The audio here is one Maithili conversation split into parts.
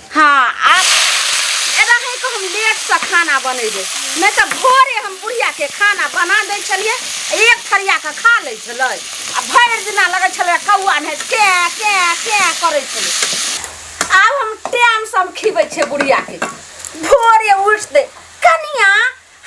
हाँ आप रहे को हम लेट से खाना बनेबे नहीं तो भोरे हम बुढ़िया के खाना बना दे छलिए एक थरिया के खा ले छले आ भरि दिना लगे छले कौआ ने के के के करे छले आब हम टाइम से हम खिबै छे बुढ़िया के भोरे उठ दे कनिया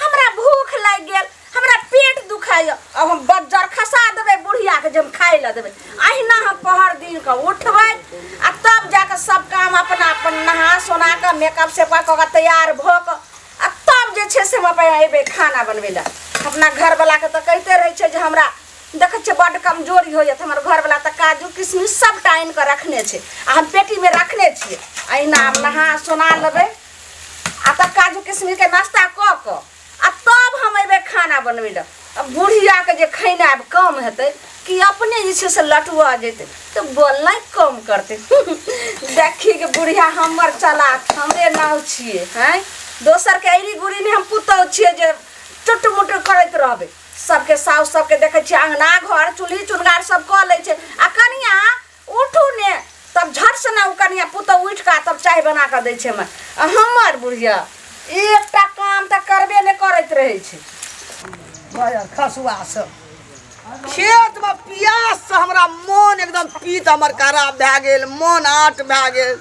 हमरा भूख लागि गेल हमरा पेट दुखाइए अब हम बज्जर खसा देबै बुढ़ियाके जे हम खाइ लए देबै अहिना हम पहर दिनके उठबै आ तब जाके सब काम अपना अपन नहा सोना कऽ मेकअप सेकअप कऽ कऽ तैयार भऽ कऽ आ तब जे छै से हम अपन अयबै खाना बनबै लए अपना घरवलाके तऽ कहिते रहै छै जे हमरा देखै छियै बड्ड कमजोरी होइए तऽ हमर घरवला तऽ काजू किशमिश सब टाइम कऽ रखने छै आ हम पेटीमे रखने छियै अहिना हम नहा सोना लेबै आ तब काजू किशमिश के नाश्ता कऽ कऽ आ तब हम अयबै खाना बनबै लए आ बुढ़ियाके जे खैनाइ कम हेतै कि अपने जे छै से लटुआ जेतै तऽ बोलनाइ कम करतै देखी के बुढ़िया हमर चलाक हमरे नाव छियै हैं दोसरके अयरी गुड़ी नहि हम पुतहु छियै जे टुट मुट करैत रहबै सबके साउस सबके देखै छियै अङ्गना घर चूल्ही चुनगार सब कऽ लै छै आ कनिया उठू ने तब झट से ना कनिया पुतौ उठ का तब चाय बना के दै छै मैं हमर बुढ़िया एकटा काम तऽ करबे ने करैत रहै छै भैया खसुआ से खेत में प्यास से हमरा मन एकदम पीत हमर खराब भए गेल मन आट भए गेल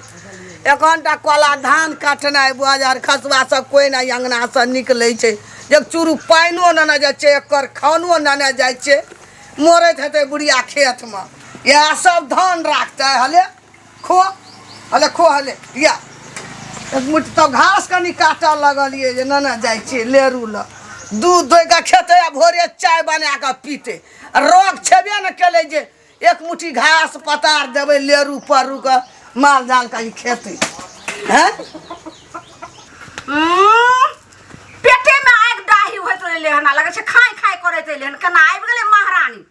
एखनटा कोला धान काटनाइ बाजार खसुआ से कोई नहि अंगना से निकलै छै एक चूरू पानिओ नेने जाइ छै एकर खानो नेने जाइ छै मरैत हेतै बुढ़िया खेतमे इएह सब धान राखतै हले खो हले खो हले या एक मुट्ठी तब घास कनि काटऽ लगलियै जे नेने जाइ छियै लेरू लऽ दूध धोइ कऽ खेतै आ भोरे चाय बना कऽ पीतै आ रोग छेबे ने केलै जे एक मुट्ठी घास पतार देबै लेरू परू कऽ माल जाल कनि खेतै हैं पेटे में आग डाही होत रहले हन आ लगे छै खाय खाय करैत रहले हन केना आबि गेलै महारानी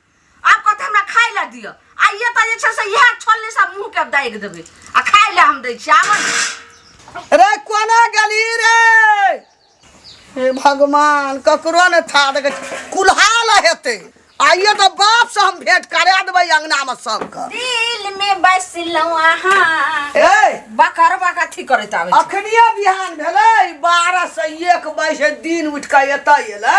आब कहते हमरा खाय लए दिअ आइए तऽ जे छै से इएह छोलनी सब मुँह के दागि देबै आ खाय लए हम दै छी आबऽ ने। रे कोना गली रे हे भगवान ककरो ने था देखे कुल्हाल हेतै आइए तो बाप से हम भेंट करा देबै अंगना में सबके दिल में बसलहुँ अहाँ ए बकर बकर अथी करैत आबै छै। अखनिए बिहान भेलै बारह से एक बजे दिन उठि कऽ एतऽ एलै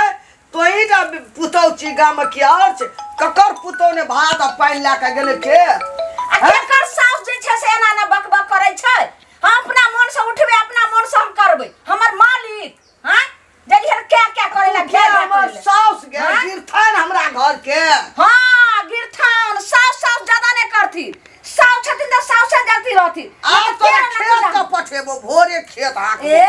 तोही टा पुतौ छी गाममे कि आओर छै ककर पुतौ ने भात आ पानि लए कऽ गेलै के आ केकर साउस जे छै से एना ने बक बक करै छै हम अपना मोन से उठबै अपना मोन से हम करबै हमर मालिक हाँ जली हर क्या क्या करे ला क्या क्या हमर करे ला। साउस के हाँ? गिरथन हमरा घर के हाँ गिरथान साव साव ज्यादा नहीं करती साव छथिन तो साव से जलती रहती आब तो तेरा खेत नतीजा। के पठेबो भोरे खेत हाक ए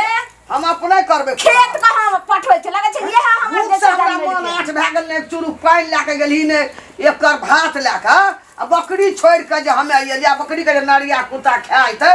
हम अपने करबे खेत का हम पठवे छै लगे छै ये हमर भूख से जैसे हमरा मन जानवर आठ भए गेल ने चुरू पानि लए के गेली ने एकर भात लए के आ बकरी छोड़ि के जे हमे अइली आ बकरी के जे नरिया कुत्ता खाइत है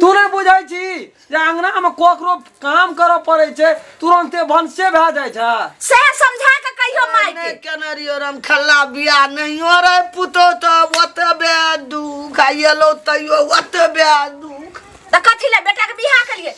तू नहि बुझै छी जे अङ्गनामे ककरो काम करऽ पड़ै छै तुरन्ते भनसे भए जाइ छै से समझा के कहियो माय के नहि केने रहियो राम खल्ला बिया नहियो रे पुतो तऽ ओते बे दुख आ एलो तैयो ओते बे दुख तऽ कथी ले बेटा के बियाह केलिए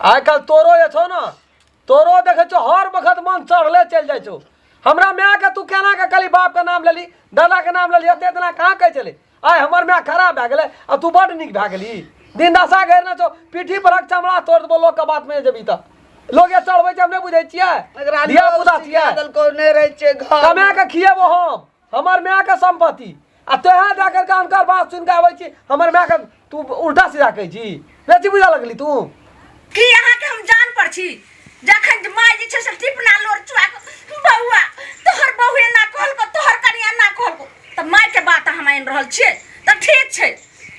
आइ काल्हि तोरो जे छौ ने तोरो देखै छौ हर वक्त मन चढ़ले चलि जाइ छौ हमरा मायके तू केना के कहली बापके नाम लेली दादाके नाम लेली एते दिना कहाँ कहै छलै आइ हमर माय खराब भए गेलै आ तू बड्ड नीक भए गेली दिन दशा घेरने छौ पीठी पर हक चमड़ा तोड़ देबो लोकके बातमे जे जेबही तऽ लोक जे चढ़बै छै हम नहि बुझै छियै एकरा धिया पुता छियै देलको नहि रहै छै घर कमाए कऽ खिएबो हम हमर मायके सम्पत्ति आ तोहे जा करके हुनकर बात सुनि कऽ आबै छी हमर मायके तू उल्टा सीधा कहै छी बेसी बुझऽ लगली तू की अहाँके हम जान पर छी जखन माय जे छै से टिपना लोर चुआ बौआ तोहर बहू एना कहलको तोहर कनिया एना कहलको तऽ मायके बात अहाँ मानि रहल छियै तऽ ठीक छै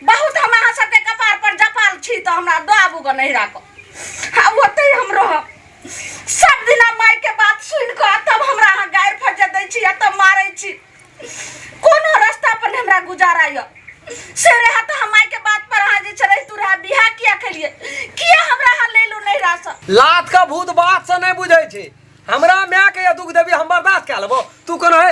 बहुत हम अहाँ सबके कपार पर जपाल छी तऽ हमरा दऽ आबू गऽ नहिरा कऽ आ ओतहि हम रहब सब दिना माय के बात सुन के तब हमरा अहाँ गारि फजे दै छी तब मारे छी कोनो रास्ता पर ने हमरा गुजारा य से रहा तो हम माय के बात पर अहाँ जे छे तू रहा बिहा किया खेलिए किया हमरा अहाँ ले लू नहीं रहा सब लात का भूत बात से नहीं बुझे छी हमरा माय के दुख देवी हम बर्दाश्त कर लेबो तू कौन है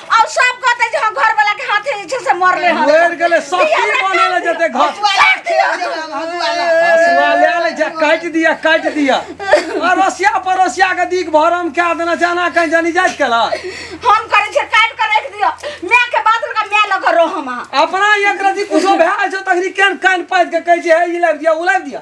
और सब कहते जे हम घर वाला के हाथे जे छै से मरले हन मर गेले सब की बनेले जते घर हसुआ ले ले जा काट दिया काट दिया अरोसिया परोसिया के दीक भरम क्या देना जाना कहीं जानी जात कला हम करे छै काट के रख दियो मैं के बात लगा मैं लग रो हम अपना एक रति कुछो भए जो तखरी केन कान पात के कहै छै हे ई लाग दिया उ लाग दिया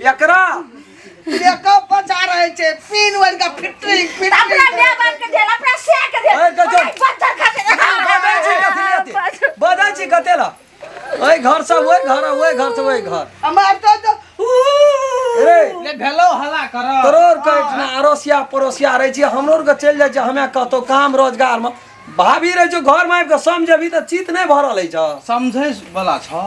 एकरा मेकअप बचा रहे छे पिन वर का फिटिंग फिटिंग अपना दे बात के दे अपना से के दे ओए गजब। पत्थर खा के बदै छी कथी लेते बदै छी कते ला ओए घर से ओए घर ओए घर से ओए घर हमार तो तो रे ले भेलो हला कर तोरोर के इतना अरोसिया परोसिया रहे छी हमरो के चल जाय छी हमे कहतो काम रोजगार में भाभी रहे जो घर में आबि के समझबी त चित नहीं भरल है छ समझै वाला छ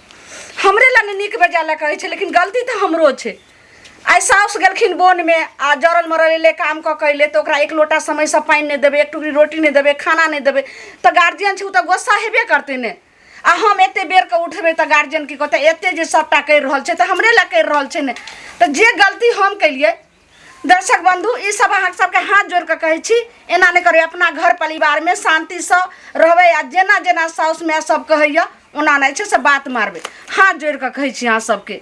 हमरे ला ने नीक बेजा ला कहै छै लेकिन गलती तऽ हमरो छै आइ साउस गेलखिन बोनमे आ जरल मरल एलै काम कऽ के अयलै तऽ ओकरा एक लोटा समयसँ पानि नहि देबै एक टुकड़ी रोटी नहि देबै खाना नहि देबै तऽ गार्जियन छै ओ तऽ गोस्सा हेबे करतै ने आ हम एते बेर के उठबे तऽ गार्जियन की कहते एते जे सबटा करि रहल छै तऽ हमरे ला करि रहल छै ने तऽ जे गलती हम केलिए दर्शक बंधु ई सब अहाँ सबके हाथ जोड़ के कहै छी एना नहि करू अपना घर परिवार में शांति से रहबै आ जेना जेना साउस माय सब कहैया ओना नहि छै से बात मारबै हाथ जोड़ के कहै छी अहाँ सबके